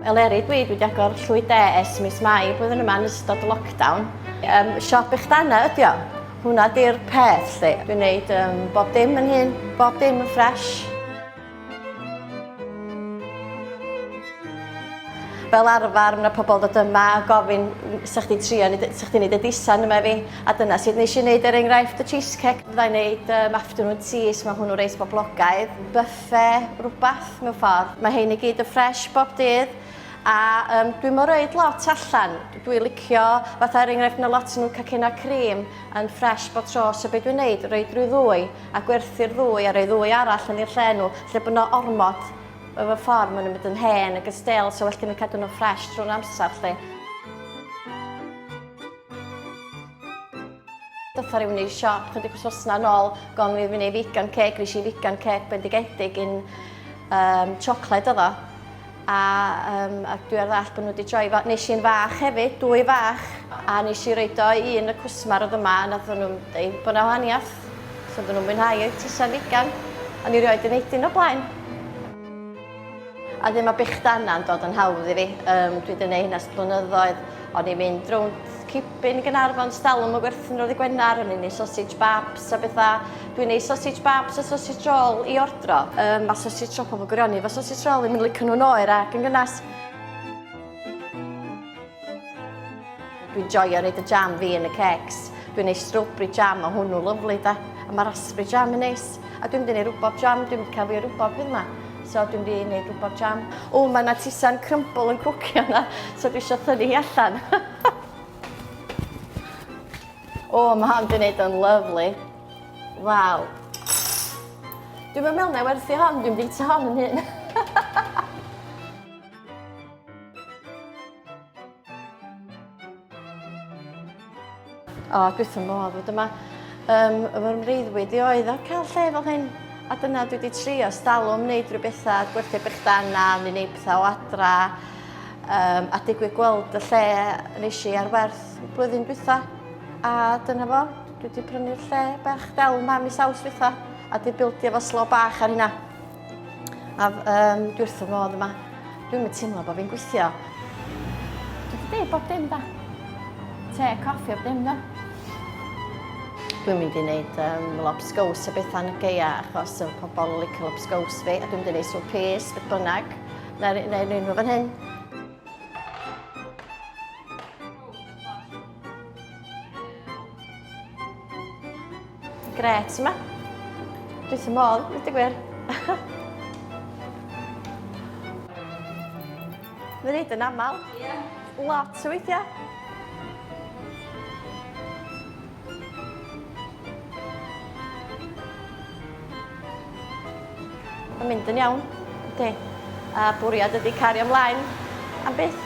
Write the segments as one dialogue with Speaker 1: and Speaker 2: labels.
Speaker 1: Eleri dwi, dwi wedi agor llwy de es mis Mai blwyddyn yma yn ystod y lockdown. Um, siop eich dana ydi o. Hwna di'r peth lle. Dwi'n neud um, bob dim yn hyn, bob dim yn ffresh. fel arfer mae 'na pobl yn dod yma a gofyn 'sa chdi'n trio neud y- 'sa chdi'n neud y di-san yma i fi a dyna sut nesh i neud er enghraifft y cheesecake fydda i'n neud yym afternoon teas ma' hwnnw reit boblogaidd byffe rwbath mewn ffordd ma' hein i gyd yn ffresh bob dydd a yym dwi'm yn roid lot allan dwi licio fatha er enghraifft ma' lot o nw'n cacennau crîm yn ffresh bob tro so be' dwi'n neud roid ryw ddwy a gwerthu'r ddwy a rhoi ddwy arall yn i'r lle nhw, lle bod yna ormod o fy ffordd maen nhw'n mynd yn hen ac yn stale, so well gen i cadw nhw'n ffresh trwy'r amser 'lly. Dotha rhywun i'r siop chydig wythnos yn ôl gofyn i fi wneud vegan cake, nes i vegan cake bendigedig un um, siocled oedd o. a um, ac dwi ar ddall bod nhw wedi troi fo. Nes i'n fach hefyd, dwy fach, a nes i reid o i un y cwsmar oedd yma, a nath nhw'n dweud bod na wahaniaeth. So dyn nhw'n mwynhau o'i tysa figan, ond i rioed yn eidyn o blaen. A ddim mae bechdana yn dod yn hawdd i fi. Um, dwi wedi gwneud hynna blynyddoedd. O'n i'n mynd rownd cipyn i Gynarfon, stalwm y gwerthin roedd i Gwenar, o'n i'n ei sausage babs a bethau. Dwi'n ei sausage babs a sausage roll i ordro. Um, mae sausage roll pobl gwirioni efo sausage roll i mynd licio nhw'n oer ac yn gynnas. Dwi'n joio reid y jam fi yn y cecs. Dwi'n ei strawberry jam, mae hwnnw lyflu da. A mae raspberry jam yn neis. A dwi'n mynd i rwbob jam, dwi'n mynd cael fi rwbob hyn ma. So dwi'n mynd i wneud rwbob jam. O, mae yna tisan crumble yn cwcio yna, so dwi eisiau thynnu hi allan. O, oh, mae hon di wneud o'n lyflu. Waw. Dwi'n mynd mewn na werthu hon, dwi'n bwyta hon yn hyn. o, oh, dwi'n ddim modd fod yma. Um, fy mreiddwyd i oedd o'r cael lle fel hyn. A dyna dwi wedi trio stalwm wneud rhywbeth a gwerthu bych dan na, neu wneud pethau o adra. Um, a digwydd gweld y lle nes i ar werth blwyddyn dwytha. A dyna fo, dwi wedi prynu'r lle bach del ma mis aws dwytha. A di bildio fo slo bach ar hynna. A um, dwi wrth y modd yma. Dwi'n mynd teimlo bod fi'n gweithio. Dwi wedi dweud bob dim da. Te, coffi, bob dim da. Dwi'n mynd i wneud um, lobsgaws a bethau yn y geia achos y pobl yn licio lobsgaws fi a dwi'n mynd i wneud swp pys, beth bynnag. Na, na, na, na, fan hyn. Gret yma. Dwi ddim modd, dwi'n dweud gwir. Mae'n neud yn aml. Ie. Lot o weithiau. Mae'n mynd yn iawn, yndi. A bwriad ydy cario ymlaen am byth.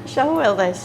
Speaker 1: Eisiau hwyl, does?